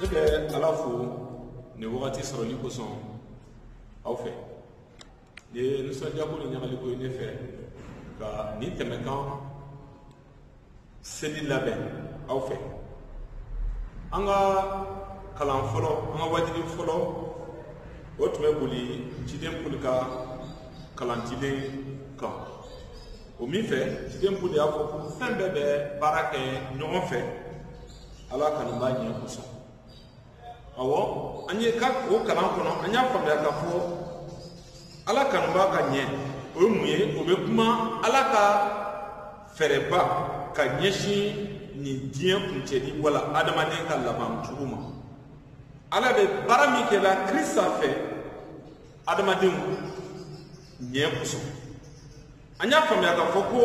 ne bɛ ala fo nin wagati sɔrɔli kosɔn aw fɛ nin ye nisɔndiyako ni ɲagaliko ye ne fɛ ka nin tɛmɛkan seli labɛn aw fɛ an ka kalan fɔlɔ an ka waajuli fɔlɔ o tun bɛ boli ciden poli ka kalan dilen kan o min fɛ ciden poli y'a fɔ ko fɛn bɛɛ bɛ baara kɛ ɲɔgɔn fɛ ala kanubaa ɲɛ kosɔn awɔ an ye ka o kalan kɔnɔ an y'a faamuya k'a fɔ ala kanubaa ka ɲɛ o ye mun ye o bɛ kuma ala ka fɛɛrɛba ka ɲɛsin nin diɲɛ kuncɛli wala adamaden ka laban cogo ma ala bɛ baara min kɛ la krisita fɛ adamadenw ɲɛ kosɔn an y'a faamuya k'a fɔ ko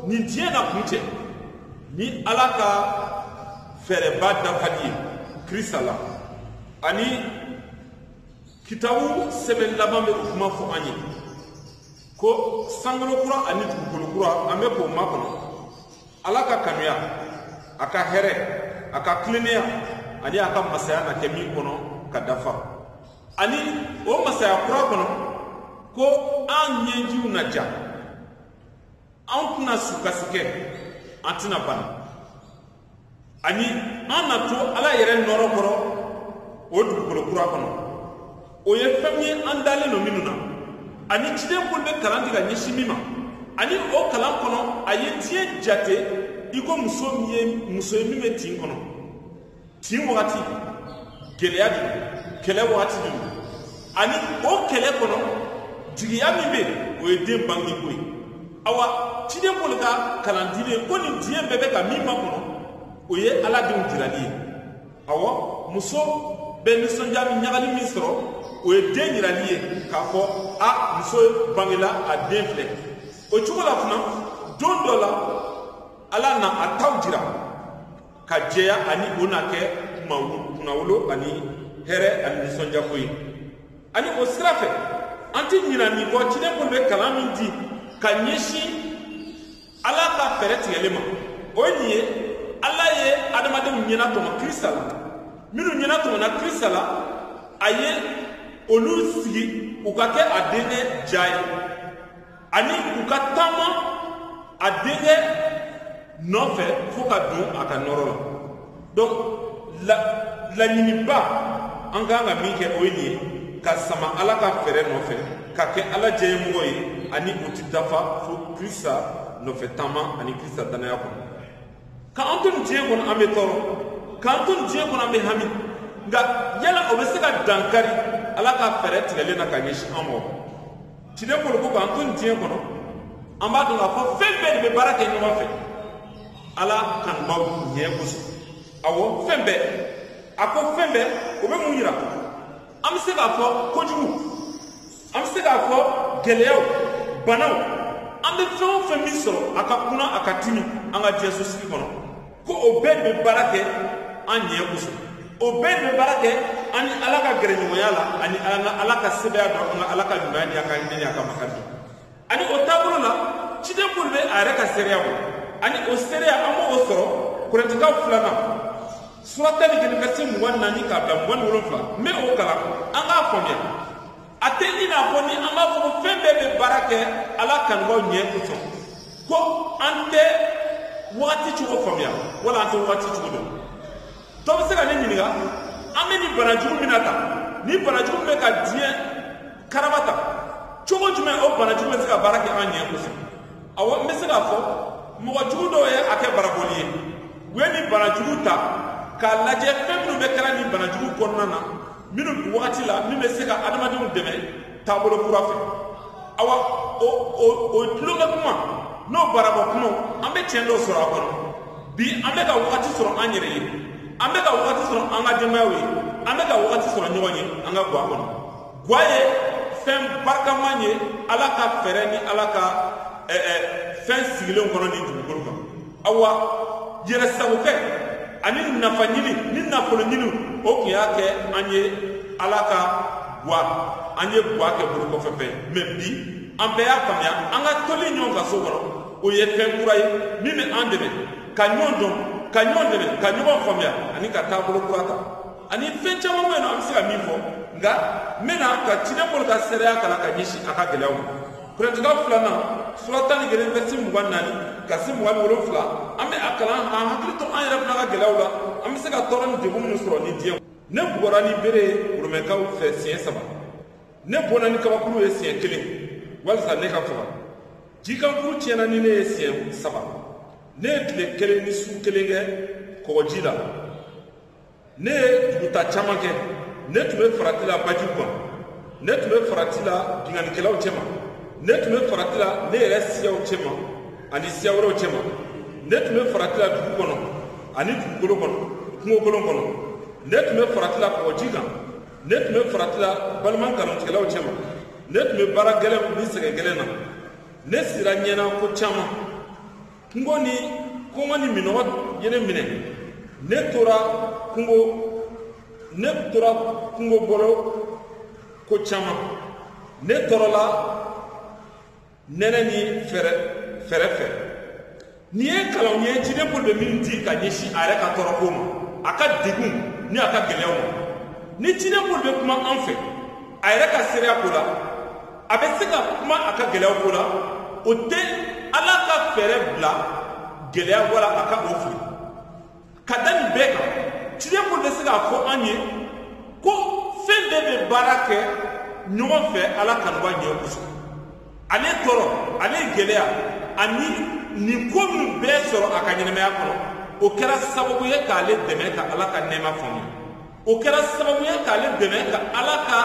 nin diɲɛ na kuncɛ ni ala ka fɛɛrɛba dafali ye krisita la ani kitabu sɛbɛn laban bɛ o kuma fɔ an ye ko sankolo kura ani dugukolo kura an bɛ k'o makɔnɔ ala ka kanuya a ka hɛrɛ a ka tilennenya ani a ka masaya na kɛ min kɔnɔ ka dafa ani o masaya kura kɔnɔ ko an ɲɛjiw na ja an tɛna sukasi kɛ an tɛna bana ani an na to ala yɛrɛ nɔɔrɔ kɔrɔ o dugukolo kura kɔnɔ o ye fɛn ye an dalen don minnu na ani ciden poli bɛ kalan di ka ɲɛsin min ma ani o kalan kɔnɔ a ye diɲɛ jate i ko muso min ye muso ye min bɛ tin kɔnɔ tin wagati gɛlɛya de kɛlɛ wagati de ani o kɛlɛ kɔnɔ jigiya min bɛ o ye den bange ko ye awa ciden poli ka kalan dilen ko nin diɲɛ bɛɛ bɛ ka min makɔnɔ o ye ala denw jirali ye awɔ muso bɛ nisɔndiya min ɲagali min sɔrɔ o ye den jirali ye k'a fɔ a muso bangela a den filɛ o cogo la fana don dɔ la ala na a taw jira ka jɛya ani o na kɛ kunnawolo ani hɛrɛ ani nisɔndiyako ye ani o sira fɛ an tɛ ɲina nin kɔ ciden poli bɛ kalan min di ka ɲɛsin ala ka fɛɛrɛ tigɛlen ma o ye nin ye ala ye adamadenw ɲɛnatɔmɔ krisita la minnu ɲɛnatɔmɔna krisita la a ye olu sigi u ka kɛ a denkɛ ja ye ani u ka taama a denkɛ nɔfɛ fo ka don a ka nɔrɔ la donc laɲiniba an kan ka min kɛ o ye nin ye ka sama ala ka fɛɛrɛ nɔfɛ ka kɛ ala diyanyemɔgɔ ye ani o ti dafa fo krista nɔfɛ taama ani krista danaya kɔnɔ k'an to nin diɲɛ kɔnɔ an bɛ tɔɔrɔ k'an to nin diɲɛ kɔnɔ an bɛ hami nka yala o bɛ se ka dankari ala ka fɛɛrɛ tigɛlen na ka ɲɛsin an ma ciden poli ko k'an to nin diɲɛ kɔnɔ an b'a dɔn k'a fɔ fɛn bɛɛ de bɛ baara kɛ ɲɔgɔn fɛ ala kanubaaw ɲɛ kosɔn awɔ fɛn bɛɛ a ko fɛn bɛɛ o bɛ mun yira an bɛ se k'a fɔ kojugu an bɛ se k'a fɔ gɛlɛyaw banaw an bɛ fɛn o fɛn min sɔrɔ a ka kunan a ka timi an ka diɲɛ sosigi kɔnɔ ko o bɛɛ de bɛ baara kɛ an ɲɛ kosɔn o bɛɛ de bɛ baara kɛ an ni ala ka gɛrɛɲɔgɔnya la ani an ka ala ka sebaaya dɔn an ka ala ka ɲumanya ni a ka hinɛ ni a ka makari dɔn ani o taabolo la ciden poli bɛ a yɛrɛ ka seereya bɔ ani o seereya an b'o sɔrɔ korɛntikaw filanan sura tan ni kelen verset mugan naani k'a bila mugan ni wolonfila n bɛ o kalan an k'a faamuya a tɛ i n'a fɔ ni an b'a fɔ ko fɛn bɛɛ bɛ baara kɛ ala kanubaaw ɲɛ kosɔn ko an tɛ wagati cogo faamuya wala an tɛ wagati cogo dɔn dɔ bɛ se ka ne ɲininka an bɛ nin bana jugu min na tan nin bana jugu bɛ ka diɲɛ karaba tan cogo jumɛn o bana jugu bɛ se ka baara kɛ an ɲɛ kosɔn awɔ n bɛ se k'a fɔ mɔgɔ jugu dɔw ye a kɛ barabɔli ye u ye nin bana jugu ta k'a lajɛ fɛn minnu bɛɛ kɛra nin bana jugu kɔnɔna na minnu wagati la min bɛ se ka adamadenw dɛmɛ taabolo kura fɛ awa o o o tulonkɛ kuma n'o barabɔ kumaw an bɛ tiɲɛ dɔw sɔrɔ a kɔnɔ bi an bɛ ka wagati sɔrɔ an yɛrɛ ye an bɛ ka wagati sɔrɔ an ka denbayaw ye an bɛ ka wagati sɔrɔ ɲɔgɔn ye an ka guwa kɔnɔ guwa ye fɛn barikaman ye ala ka fɛɛrɛ ni ala ka ɛɛ fɛn sigilenw kɔnɔ nin dugukolo kan awa yɛrɛ sagokɛ ani nafa ɲini ni nafolo ɲini o tun y'a kɛ an ye ala ka gwa an ye gwa kɛ bolo kɔfɛ fɛn mais bi an bɛɛ y'a faamuya an ka toli ɲɔgɔn kan so kɔnɔ o ye fɛn kura ye min bɛ an dɛmɛ ka ɲɔgɔn dɔn ka ɲɔgɔn dɛmɛ ka ɲɔgɔn faamuya ani ka taabolo kura ta ani fɛn caman bɛ yen nɔ an bɛ se ka min fɔ nka n bɛna ka ciden poli ka seereya kalan ka ɲɛsin a ka gɛlɛyaw ma korɛntikaw filanan sura tan ni kelen verset mugan naani ka se mugan ni wolonfila an bɛ a kalan k'an hakili to an yɛrɛ fana ka gɛlɛyaw la an bɛ se ka tɔɔrɔ ni degun minnu sɔrɔ nin diɲɛ ne bugɔra ni bere ye romɛkaw fɛ siɲɛ saba ne bɔnna ni kabakuru ye siɲɛ kelen walisa ne ka faga jikankurun tiɲɛna ni ne ye siɲɛ saba ne ye tile kelen ni su kelen kɛ kɔgɔji la ne ye duguta caman kɛ ne tun bɛ farati la bajiw kan ne tun bɛ farati la binkannikɛlaw cɛma ne tun bɛ farati la ne yɛrɛ siyaw cɛma ani siya wɛrɛw cɛma ne tun bɛ farati la dugu kɔnɔ ani dugukolo kɔnɔ kungokolon kɔnɔ ne tun bɛ farati la kɔgɔji kan ne tun bɛ farati la balima nkalontigɛlaw cɛma ne tun bɛ baara gɛlɛn ni sɛgɛn gɛlɛn na ne sira ɲɛna ko caman kungo ni kɔngɔ ni minnɔgɔ ye ne minɛ ne tora kungo ne tora kungo bolo ko caman ne tɔɔrɔla nɛnɛ ni fɛɛrɛ fɛɛrɛ fɛ nin ye kalanw ye ciden pɔli bɛ min di ka ɲɛsin a yɛrɛ ka tɔɔrɔko ma a ka degun ni a ka gɛlɛyaw ma ni ciden pɔli bɛ kuma an fɛ a yɛrɛ ka seereya ko la a bɛ se ka kuma a ka gɛlɛyaw ko la o tɛ ala ka fɛɛrɛ bila gɛlɛya wala a ka o fili ka da nin bɛɛ kan ciden pɔli bɛ se k'a fɔ an ye ko fɛn bɛɛ bɛ baara kɛ ɲɔgɔn fɛ ala kanuba ɲɛ kosɔn ale tɔɔrɔ ale gɛlɛya ani nin ko min bɛɛ sɔrɔ a ka ɲɛnamaya kɔnɔ o kɛra sababu ye k'ale dɛmɛ ka ala ka nɛɛma faamuya o kɛra sababu ye k'ale dɛmɛ ka ala ka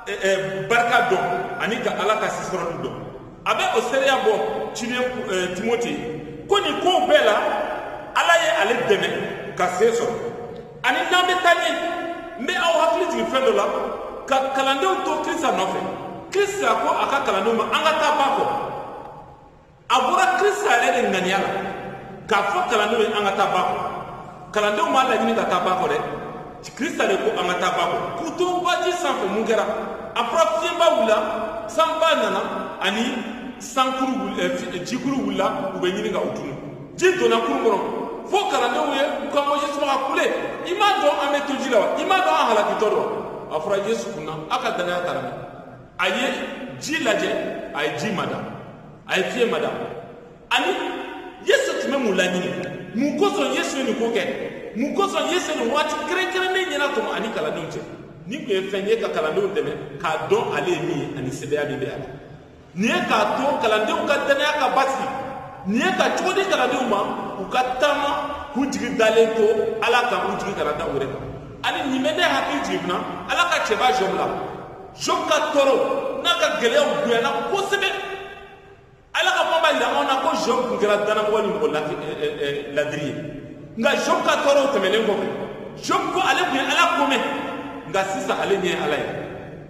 eh, eh, barika dɔn ani ka ala ka sesɔrɔli dɔn a bɛ o seereya bɔ ciden eh, timote ko nin kow bɛɛ la ala ye ale dɛmɛ ka se sɔrɔ ani n'an bɛ taa ɲɛ n bɛ aw hakili jigin fɛn dɔ la ka kalandenw to kirisita nɔfɛ kirisita ko a ka kalandenw ma an ka taa ba kɔ a bɔra kirisita yɛrɛ de ŋaniya la k'a fɔ kalandenw ye an ka taa ba kɔ kalandenw m'a laɲini ka taa ba kɔ dɛ kirisita de ko an ka taa ba kɔ k'u to baji sanfɛ mun kɛra a fɔra fiɲɛba wulila sanba nana ani sankuru eh, eh, jikuru wulila u bɛ ɲini ka u tunu ji donna kurun kɔnɔ fo kalandenw ye u kan bɔ yesu ma ka kule i m'a dɔn an bɛ to ji la wa i m'a dɔn an halakitɔ don wa a fɔra yesu kunna a ka dannaya taara min a ye ji lajɛ a ye ji mada a ye fiɲɛ mada ani yesu tun bɛ mun laɲini mun kosɔn yesu ye nin ko kɛ mun kosɔn yesu ye nin waati kɛrɛnkɛrɛnnen ɲɛnatɔmɔ a ni kalandenw cɛ nin tun ye fɛn ye ka kalandenw dɛmɛ k'a dɔn ale ye min ye ani sebaaya min bɛ a la nin ye k'a to kalandenw ka dannaya ka basigi nin ye ka cogo di kalandenw ma u ka taama k'u jigi dalen to ala kan u jigi kana da u yɛrɛ kan ani nin bɛ ne hakili jigin fana ala ka cɛba jɔbu la Job ka tɔɔrɔ n'a ka gɛlɛyaw bonyana kosɛbɛ ala ka kuma b'a jira anw na ko Job tun kɛra danamɔgɔ ni mɔgɔ ladiri ye nka Job ka tɔɔrɔw tɛmɛnen kɔfɛ Job ko ale tun ye ala ko mɛn nka sisan ale ɲɛ ye ala ye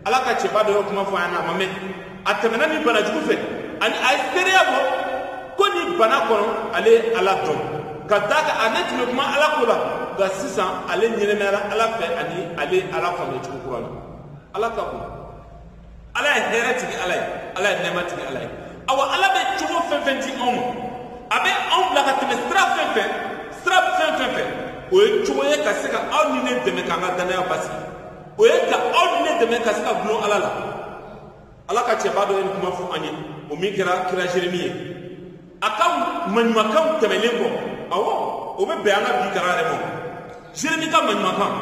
ala ka cɛba dɔ ye kuma fɔ a ɲɛna a ma mɛn a tɛmɛna nin bana jugu fɛ ani a ye seereya bɔ ko nin bana kɔnɔ ale ye ala dɔn ka d'a kan ale tun bɛ kuma ala ko la nka sisan ale ɲɛnamayara ala fɛ ani ale ye ala faamuya cogo kura la ala ka bon ala ye hɛrɛ tigi ala ye ala ye nɛɛma tigi ala ye awa ala bɛ cogo fɛn fɛn di anw ma a bɛ anw bila ka tɛmɛ sira fɛn fɛn sira fɛn fɛn fɛ o ye cogo ye ka se ka aw ni ne dɛmɛ k'an ka dannaya basigi o ye ka aw ni ne dɛmɛ ka se ka dulon ala la ala ka cɛba dɔ ye nin kuma fɔ an ye o min kɛra kira jeremi ye a ka maɲumakanw tɛmɛlen kɔ awɔ o bɛ bɛn an ka bi kalan yɛrɛ ma jeremi ka maɲumakan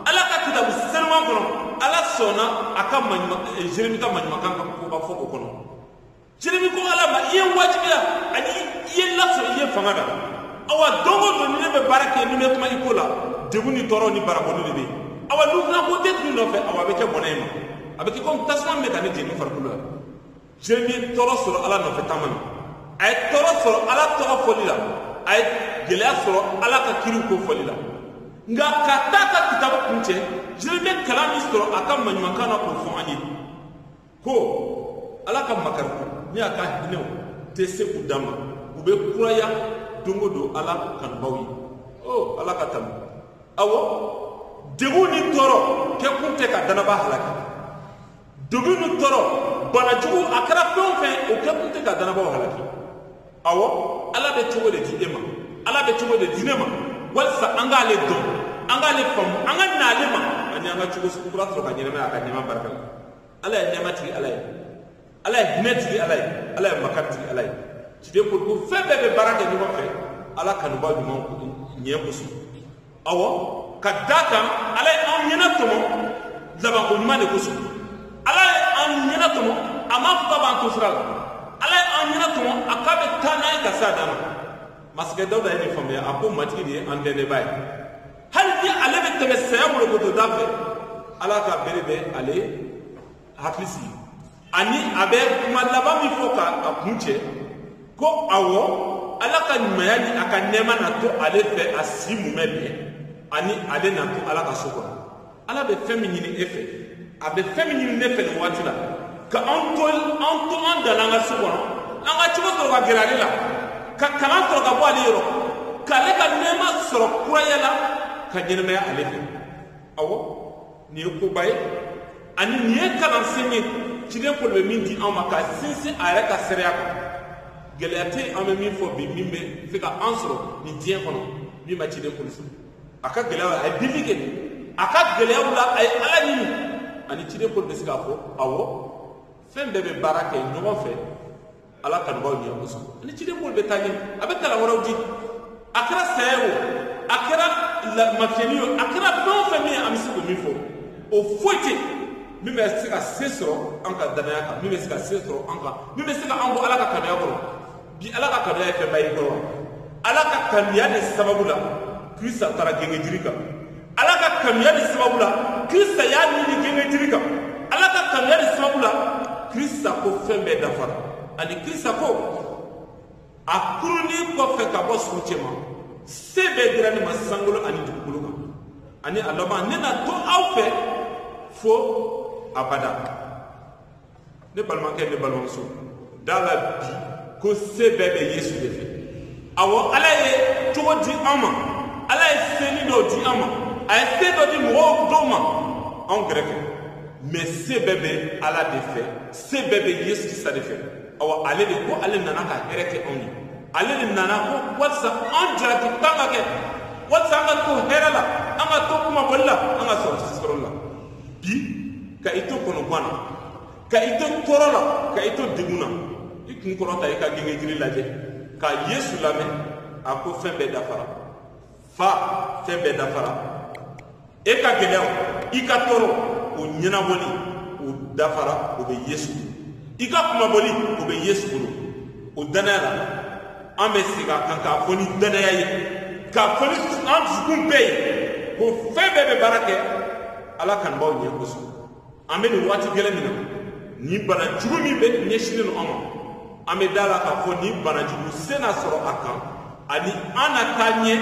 ala ka kitabu senuman kɔnɔ ala sɔnna a ka jeremi eh, ka maɲumakan ka koba fɔ o kɔnɔ jeremi ko ala ma i ye n wajibiya ani i ye n lasɔrɔ i ye fanga da awa don o don ni ne bɛ baara kɛ ni n bɛ kuma i ko la degun ni tɔɔrɔ ni barabɔli de bɛ yen awa ni n fana ko n tɛ tugu i nɔfɛ awa a bɛ kɛ bɔnɛ ye n ma a bɛ kɛ komi tasuma min bɛ ka ne jeni farikolo la jeremi ye tɔɔrɔ sɔrɔ ala nɔfɛ taama na a ye tɔɔrɔ sɔrɔ ala tɔgɔ fɔli la a ye gɛlɛya sɔrɔ ala ka kiriw ko fɔli la nka ka taa a ka kitabu kuncɛ jeremi ye kalan min sɔrɔ a ka maɲumakan na k'o fɔ an ye ko ala ka makarikow ni a ka hinɛw tɛ se u dan ma u bɛ kuraya don o don ala kanubaaw ye o oh, ala ka tanu awɔ degun ni tɔɔrɔ kɛkun tɛ ka danabaa halaki degun ni tɔɔrɔ bana jugu a kɛra fɛn o fɛn o kɛkun tɛ ka danabaaw halaki awɔ ala bɛ cogo de di e ma ala bɛ cogo de di ne ma walisa an k'ale dɔn an k'ale faamu an ka n'ale ma ani an ka cogo sugu kura sɔrɔ ka ɲɛnamaya a ka nɛɛma barika la ala ye nɛɛma tigi ala ye ala ye hinɛ tigi ala ye ala ye makari tigi ala ye ciden ko ko fɛn bɛɛ bɛ baara kɛ ɲɔgɔn fɛ ala kanubaaw ɲumanya kosɔn awɔ ka d'a kan ala ye an ɲɛnatɔmɔ labanko ɲuman de kosɔn ala ye an ɲɛnatɔmɔ a ma fɔ k'a b'an to sira la ala ye an ɲɛnatɔmɔ a k'a bɛ taa n'an ye ka s'a dan ma masakɛ dawuda ye nin faamuya a ko matigi de ye an dɛmɛbaa ye hali ni ale bɛ tɛmɛ saya bolokotoda fɛ ala ka bere bɛ ale hakili sigi ani a bɛ kuma laban min fɔ ka a kuncɛ ko awɔ ala ka ɲumanya ni a ka nɛɛma na to ale fɛ a si mumɛ bɛɛ ani ale na to ala ka so kɔnɔ ala bɛ fɛn min ɲini e fɛ a bɛ fɛn min ɲini ne fɛ nin waati la ka an to an to an dan na an ka so kɔnɔ an ka cogo sɔrɔ ka gɛrɛ ale la ka kalan sɔrɔ ka bɔ ale yɔrɔ k'ale ka nɛɛma sɔrɔ kuraya la ka ɲɛnamaya ale fɛ awɔ nin ye koba ye ani nin ye kalansen ye ciden pɔli bɛ min di an ma ka sinsin a yɛrɛ ka seereya kan gɛlɛya tɛ yen an bɛ min fɔ bi min bɛ se ka an sɔrɔ nin diɲɛ kɔnɔ min ma ciden pɔli sɔrɔ a ka gɛlɛyaw la a ye deli kɛ a ka gɛlɛyaw la a ye ala ɲini ani ciden pɔli bɛ se k'a fɔ awɔ fɛn bɛɛ bɛ baara kɛ ɲɔgɔn fɛ ala kanubaaw ɲɛ kosɔn ani ciden pɔli bɛ taa ɲɛ a bɛ kalan wɛrɛw di a kɛra saya ye o a kɛra mafiyɛni ye o a kɛra fɛn o fɛn min ye an bɛ se k'o min fɔ o foyi tɛ min bɛ se ka se sɔrɔ an ka danaya kan min bɛ se ka se sɔrɔ an kan min bɛ se ka an bɔ ala ka kanuya kɔrɔ bi ala ka kanuya ye fɛnba ye kɔrɔ ala ka kanuya de sababu la kirista taara gengejiri kan ala ka kanuya de sababu la kirista y'a ni di gengejiri kan ala ka kanuya de sababu la kirista ko fɛn bɛɛ dafara ani kirista ko a kununi kɔfɛ ka bɔ suw cɛ ma se bɛɛ dira ne ma sankolo ani dugukolo kan ani a laban ne na to aw fɛ fo abada ne balimakɛ ne balimamuso da la bi ko se bɛɛ bɛ yesu de fɛ awɔ ala ye cogo di an ma ala ye senin dɔ di an ma a ye se dɔ di mɔgɔw dɔw ma anw kɛrɛfɛ mais se bɛɛ bɛ ala de fɛ se bɛɛ bɛ yesu krista de fɛ awɔ ale de ko ale nana ka hɛrɛ kɛ anw ye ale de nana ko walisa an jarakitan ka kɛ walisa an ka to hɛrɛ la an ka to kunmabɔli la an ka sɔrɔ sesɔrɔ la bi ka i to kɔnɔgwan na ka i to tɔɔrɔ la ka i to degun na i kun kɔrɔta i ka gengejiri lajɛ ka yesu lamɛn a ko fɛn bɛɛ dafara fa fɛn bɛɛ dafara e ka gɛlɛyaw i ka tɔɔrɔ o ɲɛnabɔli o dafara o bɛ yesu i ka kunmabɔli o bɛ yesu bolo o dannaya la an bɛ sigi a kan k'a fɔ ni danaya ye k'a fɔ ni an dusukun bɛɛ ye ko fɛn bɛɛ bɛ baara kɛ ala kanubaaw ɲɛ kosɔn an bɛ nin waati gɛlɛn min na nin bana jugu min bɛ ɲɛsinnen don an ma an bɛ da la k'a fɔ nin bana jugu se na sɔrɔ a kan ani an na taa ɲɛ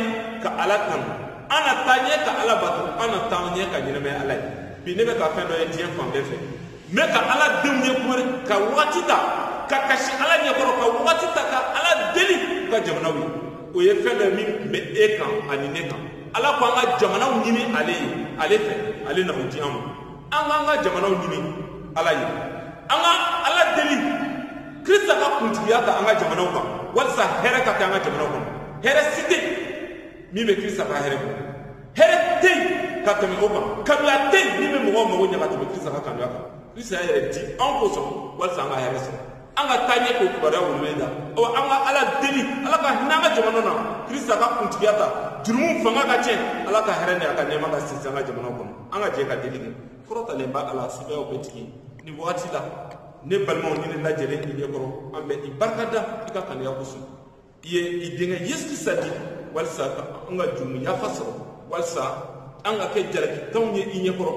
ka ala kanu an na taa ɲɛ ka ala bato an na taa ɲɛ ka ɲɛnamaya ala ye bi ne bɛ ka fɛn dɔ ye diɲɛ fan bɛɛ fɛ n bɛ ka ala denw ye k'u bɛ ka wagati ta ka kasi ala ɲɛkɔrɔ ka wagati ta ka ala deli u ka jamanaw ye o ye fɛn dɔ ye min tun bɛ e kan ani ne kan ala ko an ka jamanaw ɲini ale ye ale fɛ ale na o di an ma an k'an ka jamanaw ɲini ala ye an ka ala deli krista ka kuntigiya ta an ka jamanaw kan walisa hɛrɛ ka kɛ an ka jamanaw kɔnɔ hɛrɛ si tɛ min bɛ krista ka hɛrɛ kɔnɔ hɛrɛ tɛ yen ka tɛmɛ o kan kanuya tɛ yen min bɛ mɔgɔw mago ɲɛ ka tɛmɛ krista ka kanuya kan krista y'a yɛrɛ di an kosɔn walisa an ka hɛrɛ sɔrɔ an ka taa ɲɛ k'o kibaruya weleweleda ɔ an ka ala deli ala ka hinɛ an ka jamana na krista ka kuntigiya ta jurumu fanga ka tiɲɛ ala ka hɛrɛ ni a ka nɛɛma ka sinsin an ka jamana kɔnɔ an ka jɛ ka deli kɛ kɔrɔtalenba ala sebaayaw bɛɛ tigi nin wagati la ne balimaw ni ne lajɛlen i ɲɛ kɔrɔ an bɛ i barikada i ka kanuya kosɔn i ye i denkɛ yesu krista di walisa ka an ka jurumu yafa sɔrɔ walisa an ka kɛ jalakitanw ye i ɲɛkɔrɔ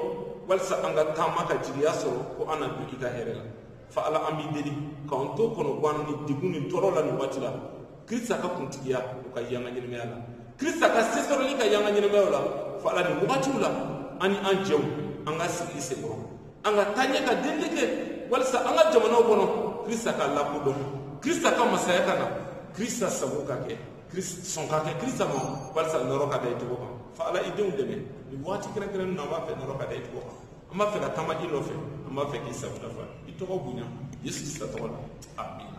walisa an ka taama ka jigiya sɔrɔ ko an na don i ka hɛrɛ la fa ala an b'i deli k'an to kɔnɔgwan ni degun ni tɔɔrɔ la nin waati la krista ka kuntigiya o ka ye an ka ɲɛnamaya la krista ka sesɔrɔli ka ye an ka ɲɛnamaya la fa ala nin wagatiw la an ni an jɛw an ka sigi i senkɔrɔ an ka taa ɲɛ ka delili kɛ walisa an ka jamanaw kɔnɔ krista ka lakodɔn krista ka masaya ka na krista sago ka kɛ sɔn ka kɛ krista ma walisa nɔɔrɔ ka da i tɔgɔ kan fa ala i denw dɛmɛ nin waati kɛrɛnkɛrɛnnen na an b'a fɛ nɔɔrɔ ka da i tɔgɔ kan an b'a fɛ ka taama i nɔfɛ an b'a fɛ k'i sago dafa i tɔgɔ bonya yesu krista tɔgɔ la amina